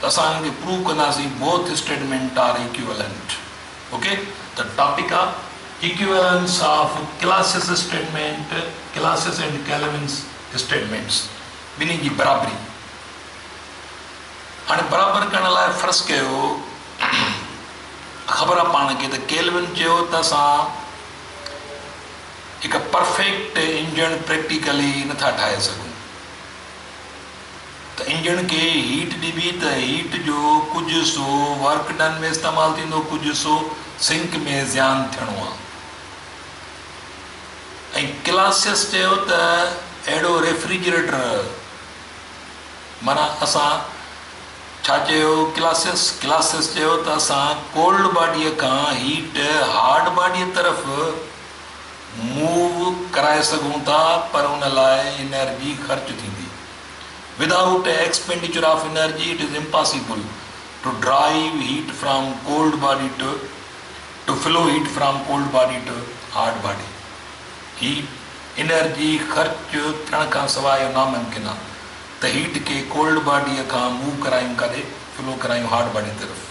ته اسان انهن کي پروو ڪنداسين both statement are equivalent okay ته ٽاپڪ آ equivalence of Clausius statement Clausius and Kelvin's statements ٻنهي جي برابري هاڻي برابر ڪرڻ لاء فرض ڪيو خبر آ پاڻ کي ته ڪيلوين چيو ته اسان هڪ پرفيڪٽ انجڻ پريڪٽيڪلي نٿا ٺاهي سگهون ته انجڻ کي هيٽ ڏبي ته هيٽ جو ڪجهه حصو ورڪ ڊن ۾ استعمال ٿيندو ڪجهه حصو سنڪ ۾ زيان ٿيڻو آهي ۽ ڪلاسيس چيو ته اهڙو ريفريجريٽر معنيٰ اسان ڇا چيو ڪلاسيس ڪلاسيس چيو ته اسان ڪولڊ باڊي کان هيٽ هارڊ باڊي طرف موو ڪرائي سگهون ٿا پر ان لاء انرجي خرچ ٿيندي. Without expenditure of energy it is impossible to drive heat from cold body to to flow heat from cold body to hot body. هي انرجي خرچ ٿيڻ کان سواء اهو ناممڪن آهي ته هيٽ کي ڪولڊ باڊي کان موو ڪرايون ڪاڏي فلو ڪرايون هاٽ باڊي طرف.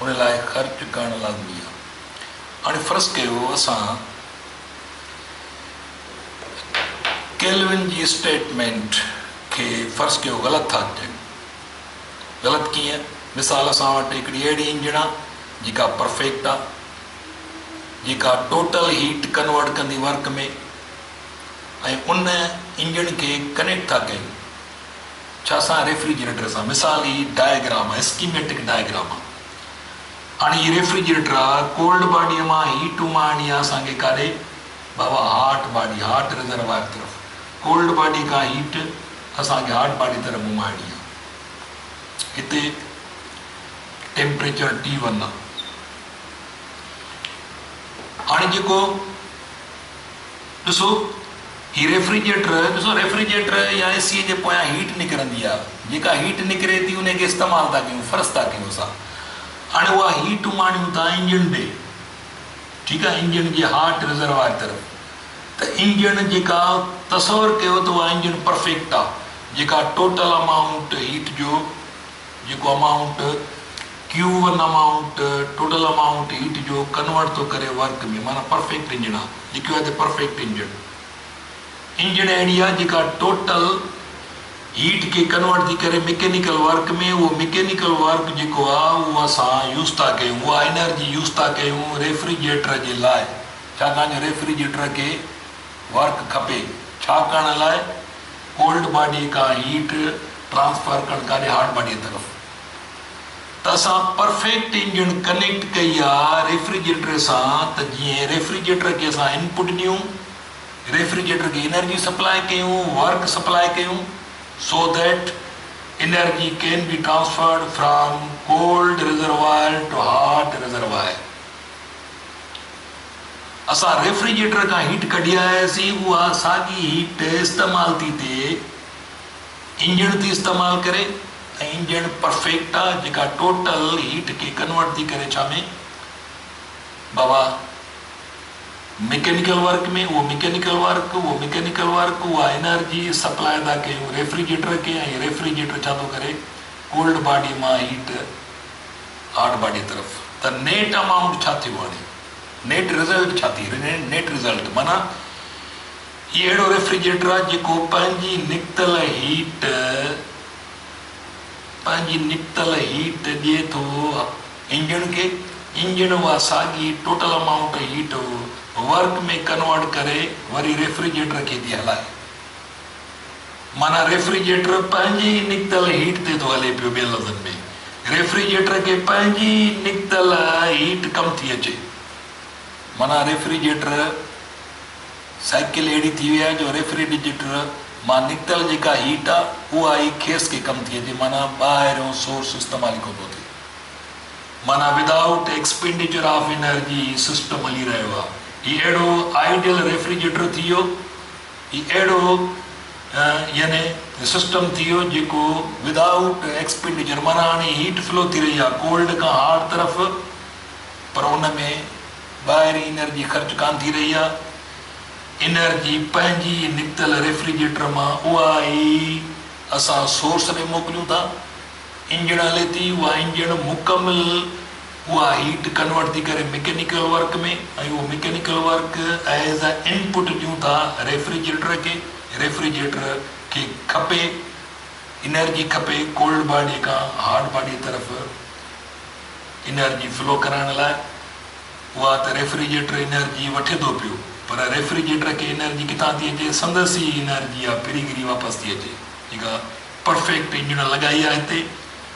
ان لاء خرچ ڪرڻ لازمي آهي. هاڻي فرض ڪيو اسان ڪيلون جي اسٽيٽمينٽ کي فرض ڪيو غلط ٿا ڪيون. غلط ڪيئن؟ مثال اسان وٽ هڪڙي اهڙي انجڻ آ جيڪا پرفيڪٽ آ جيڪا ٽوٽل هيٽ ڪنورٽ ڪندي ورڪ ۾ ۽ ان انجڻ کي ڪنيڪٽ ٿا ڪيون ڇا سان ريفريجريٽر سان مثال هي ڊائگرام آ اسڪيميٽڪ ڊائگرام آ. هاڻي هي ريفريجريٽر آ ڪولڊ باڊيء مان هيٽ امان آڻي آ اسان کي ڪاڏي بابا هاٽ باڊي هاٽ رزروائر طرف ڪولڊ باڊي کان هيٽ اسان کي هاٽ باڊي طرف گهمائڻي آ هتي ٽيمپريچر ٽي ون آ هاڻي جيڪو ڏسو هي ريفريجريٽر ڏسو ريفريجريٽر يا اي سي جي پويان هيٽ نڪرندي آهي جيڪا هيٽ نڪري ٿي انهي کي استعمال ٿا ڪيون فرس ٿا ڪيون اسان هاڻي اها هيٽ اماڻيون ٿا انجڻ ڏي ٺيڪ آهي انجڻ جي هاٽ رزروائر طرف ته انجڻ جيڪا تصور ڪيو ته اها انجڻ پرفيڪٽ آهي جيڪا ٽوٽل امائونٽ هيٽ جو جيڪو امائونٽ ڪيو one amount total amount heat جو ڪنورٽ ٿو ڪري ورڪ ۾ معنيٰ پرفيڪٽ انجڻ آهي لکيو آهي هتي پرفيڪٽ انجڻ انجڻ اهڙي آهي جيڪا ٽوٽل هيٽ کي ڪنورٽ ٿي ڪري مڪينيڪل ورڪ ۾ اهو مڪينيڪل ورڪ جيڪو آهي اهو اسان يوز ٿا ڪيون اها انرجي يوز ٿا ڪيون ريفريجريٽر جي لاء ڇاڪاڻ جو ريفريجريٽر کي ورڪ کپي ڇا ڪرڻ لاء ڪولڊ باڊي کان هيٽ ٽرانسفر ڪرڻ ڪاري هاٽ باڊي طرف ته اسان پرفيڪٽ انجڻ ڪنيڪٽ ڪئي آ ريفريجريٽر سان ته جئين ريفريجريٽر کي اسان انپٽ ڏيون ريفريجريٽر کي انرجي سپلاء ڪيون ورڪ سپلاء ڪيون so that energy can be transferred from cold reservoir to hot reservoir. اسان ريفريجريٽر کان هيٽ ڪڍي آياسين، اها ساڳي هيٽ استعمال ٿي ٿئي انجڻ ٿي استعمال ڪري ۽ انجڻ پرفيڪٽا جيڪا ٽوٽل هيٽ کي ڪنورٽ ٿي ڪري ڇا ۾ بابا مڪينيڪل ورڪ ۾ اهو مڪينيڪل ورڪ اهو مڪينيڪل ورڪ اها انرجي سپلاء ادا ڪيون ريفريجريٽر کي ۽ ريفريجريٽر ڇا ٿو ڪري ڪولڊ باڊي مان هيٽ آرٽ باڊي طرف ته نيٽ امائونٽ ڇا ٿيو آڻي نيٽ رزلٽ ڇا ٿي نيٽ رزلٽ معنيٰ هي اهڙو ريفريجريٽر آهي جيڪو پنهنجي نڪتل هيٽ پنهنجي نڪتل هيٽ ڏي ٿو انجڻ کي انجڻ اها ساڳي total amount heat work ۾ convert ڪري وري ريفريجريٽر کي ٿي هلائي. معنيٰ ريفريجريٽر پنهنجي ئي نڪتل هيٽ تي ٿو هلي پيو، ٻين لفظن ۾ ريفريجريٽر کي پنهنجي ئي نڪتل هيٽ ڪم ٿي اچي. معنيٰ ريفريجريٽر سائيڪل اهڙي ٿي وئي آهي جو ريفريڊجريٽر مان نڪتل جيڪا هيٽ آ اها ئي کيس کي ڪم ٿي اچي معنيٰ ٻاهريون سورس استعمال ئي ڪونه ٿو ٿئي. معنيٰ ودائوٽ ايڪسپينڊيچر آف انرجي هي سسٽم هلي رهيو آ. هي اهڙو آئيڊيل ريفريجريٽر ٿي ويو هي اهڙو يعني سسٽم ٿي ويو جيڪو ود آئوٽ ايڪسپينڊيچر معنيٰ هاڻي هيٽ فلو ٿي رهي آهي ڪولڊ کان هاٽ طرف پر ان ۾ ٻاهرين انرجي خرچ ڪانه ٿي رهي آهي انرجي پنهنجي نڪتل ريفريجريٽر مان اها ئي اسان سورس ڏي موڪليون ٿا انجڻ هلي ٿي اها انجڻ مڪمل اها هيٽ ڪنورٽ ٿي ڪري مڪينيڪل ورڪ ۾ ۽ اهو mechanical work as a input ڏيون ٿا ريفريجريٽر کي، ريفريجريٽر کي کپي انرجي کپي ڪولڊ باڊي کان هاٽ باڊي طرف انرجي فلو ڪرائڻ لاء اها ته ريفريجريٽر انرجي وٺي ٿو پيو پر ريفريجريٽر کي انرجي ڪٿان ٿي اچي سندس ئي انرجي آ پريگري واپس ٿي اچي جيڪا پرفيڪٽ انجڻ لڳائي آ هتي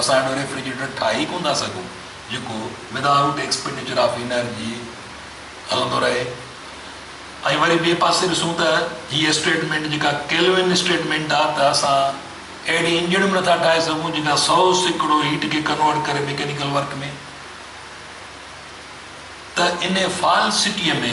اسان اهڙو ريفريجريٽر ٺاهي ئي ڪونه ٿا سگهون جيڪو ودا آئوٽ ايڪسپينڊيچر آف انرجي هلندو رهي ۽ وري ٻئي پاسي ڏسون ته هي اسٽيٽمينٽ جيڪا ڪيلوين اسٽيٽمينٽ آهي ته اسان اهڙي انجڻ به نٿا ٺاهي سگهون جيڪا سؤ سيڪڙو هيٽ کي ڪنورٽ ڪري ميڪينيڪل ورڪ ۾ ته ان فالسٽيء ۾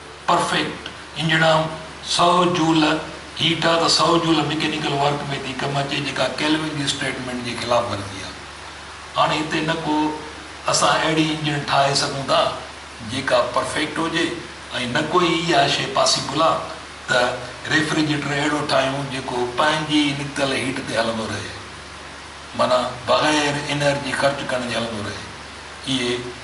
پرفيڪٽ هنجڻام سئو جول هيٽ آ ته سئو جول مڪينيڪل ورڪ ۾ ٿي ڪم اچي جيڪا ڪيلوين جي اسٽيٽمينٽ جي خلاف ورزي آ. هاڻي هتي نه ڪو اسان اهڙي انجڻ ٺاهي سگهون ٿا جيڪا پرفيڪٽ هجي ۽ نه ڪو ئي اها شي پاسيبل آ ته ريفريجريٽر اهڙو ٺاهيون جيڪو پنهنجي ئي نڪتل هيٽ تي هلندو رهي معنيٰ بغير انرجي خرچ ڪرڻ جي هلندو رهي. اهي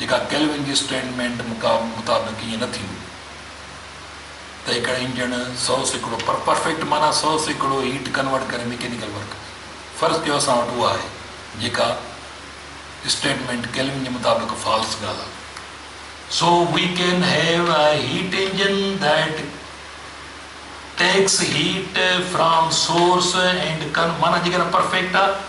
جيڪا ڪيلون جي اسٽيٽمينٽ مطابق ائين نه ٿيندي ته هڪڙو انجڻ سؤ سيڪڙو پر پرفيڪٽ معنيٰ سؤ سيڪڙو هيٽ ڪنورٽ ڪري ميڪينيڪل ورڪ ڪري فرض ڪيو اسان وٽ اها آهي جيڪا اسٽيٽمينٽ ڪيلون جي مطابق فالس ڳالهه آهي so we can have a heat engine that takes heat from source and can معنيٰ جيڪڏهن پرفيڪٽ آهي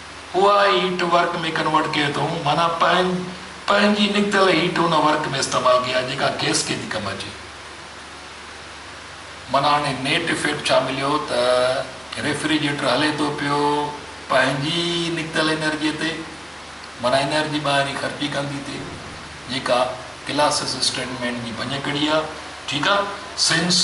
اها هيٽ ورڪ ۾ ڪنورٽ ڪري ٿو معنيٰ پنهن پنهنجي نڪتل هيٽ ان ورڪ ۾ استعمال ڪجي ها جيڪا گئس کي ٿي ڪم اچي معنيٰ هاڻي نيٽ افيڪٽ ڇا مليو ته ريفريجريٽر هلي ٿو پيو پنهنجي نڪتل انرجي تي معنيٰ انرجي ٻاهرين خرچي ڪندي تي جيڪا ڪلاس اسسٽنٽ مينڊ جي ڀڃڪڙي آهي ٺيڪ آهي سنس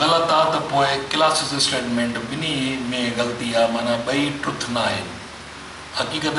غلط آ ته پوء ڪلاسز اسٽيٽمينٽ ٻنهي ۾ غلطي آ معنيٰ ٻئي ٽروٿ ناهن حقيقت.